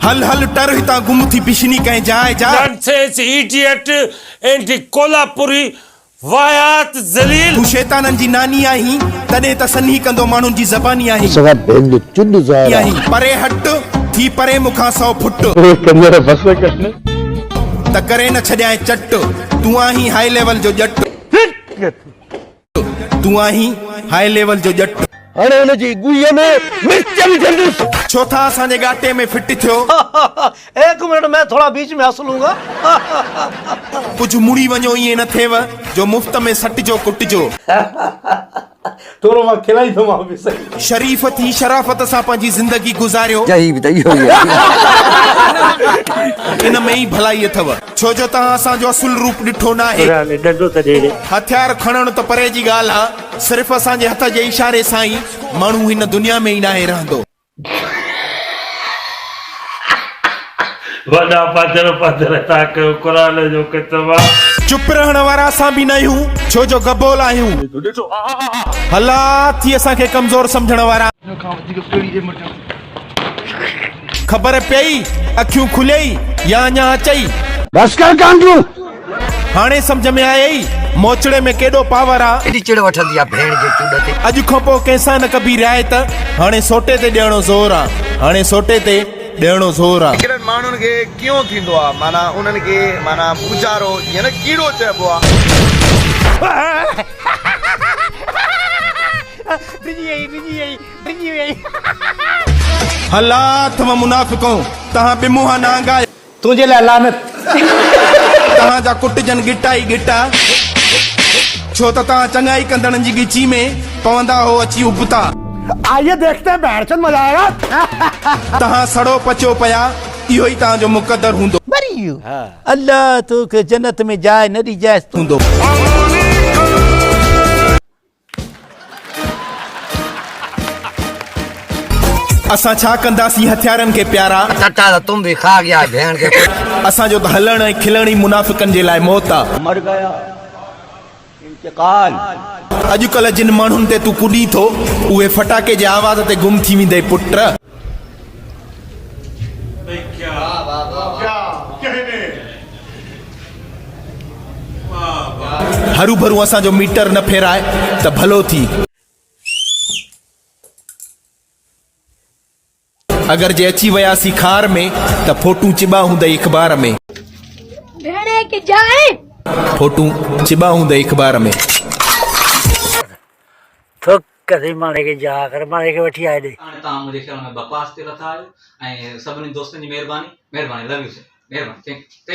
هل هل ٽر هتان گم ٿي بشني ڪنهن جاء جاء. نانسينس ايڊيٽ اينڊ ڪولهاپوري واهيات ذليل. تون شيطانن جي ناني آهين. تڏهن ته سنهي ڪندو ماڻهن جي زباني آهين. اسان کان ڀينگ چڏ ظاهر آهي. پري هٽ ٿي پري مون کان سو فٽ. اهي ڪنجر بس ڪن. ته ڪري نه ڇڏيانء چٽ. تون آهين هاء ليول جو ڄٽ. ٽڪ ڪٿي تون آهين هاء ليول جو ڄٽ. هاڻي هن جي ڳويء ۾ مرچ وجهندس. ڇو ٿا اسان جي ڳاٽي ۾ فٽ ٿيو. ايڪ منٽ مين ٿوڙا بيچ ۾ هس لون گا. ڪجهه مڙي وڃو ائين نه ٿيو جو مفت ۾ سٽجو ڪٽجو. ٿورو مان کلائيندومانو به سهي. شريف ٿي شرافت سان پنهنجي زندگي گذاريو. جهي به ته اهو ئي آهي. ان ۾ ئي ڀلائي اٿو. ڇو جو توهان اسان جو اصل روپ ڏٺو ناهي. ڪرڙا ۾ ڏنڊو ته ڏيري. هٿيار کڻڻ ته پري جي ڳالهه آ، صرف اسان جي هٿ جي اشاري سان ئي ماڻهو هن دنيا ۾ ئي ناهي رهندو. وڏا پڌر پڌر ٿا ڪيو قرآن جو ڪتب آ. چپ رهڻ وارا اسان به ناهيون ڇو جو گبول آهيون. هلا ٿي اسان کي ڪمزور سمجهڻ وارا. هن کان وڌيڪ ڪهڙي ايمرجنسي. خبر پيئي اکيون کليئي يا اڃا اچئي. بس ڪر ڪانڊرون. هاڻي سمجهه ۾ آيئي موچڙي ۾ ڪيڏو پاور آ. ڪيڏي چڙ وٺندي آ ڀيڻ جي چوڏ تي. اڄ کان پوء ڪنهن سان نه ڪبي رعايت. هاڻي سوٽي تي ڏيڻو زور آ. هاڻي سوٽي تي ڏيڻو زور آ. هڪڙن ماڻهن کي ڪيئون ٿيندو آ معنيٰ انهن کي معنيٰ پوچارو جيئن نه ڪيڙو چئبو آ. ڊڄي ويئي ڊڄي ويئي. ڊڄي ويئي. هلا ٿم منافقؤ تهان ٻه منهان نانگا. تنهنجي لاء لعنت. تهان جا ڪٽجن ڳٽا ئي ڳٽا. ڇو ته تهان چڱائي ڪندڙن جي ڳچي ۾ پوندا هئو اچي ابتا. آئيي ديکتي بهڻچود مزا آيا. تهان سڙو پچو پيا اهو ئي تهان جو مقدر هوندو. مري ويو الله توکي جنت ۾ جاء نه ڏجانس. هوندو. اسان ڇا ڪنداسين هٿيارن کي پيارا. ٽٽا ته تم به کاء گيا ڀيڻ کي پٽا. اسان جو ته هلڻ ۽ کلڻ ئي منافقن جي لاء موت آ. مر گيا انتقال. اڄڪلهه جن ماڻهن تي تون ڪڏين ٿو اهي فٽاڪي جي آواز تي گم ٿي ويندئي پٽ. هروڀرو اسان جو ميٽر نه ڦيرائي ته ڀلو ٿي. اگر جي اچي وياسين خار ۾ ته ڦوٽون چٻا هوندئي اخبار ۾. ڦوٽون چٻا هوندئي اخبار ۾. قديم ماڻهي کي جا ڪر ماڻهي کي وٺي آ هيڏي. هاڻي توهان منهنجي خيال ۾ بڪواس تي لٿا آهيو ۽ سڀني دوستن جي مهرباني مهرباني لو يو سر مهرباني ٿينڪ يو.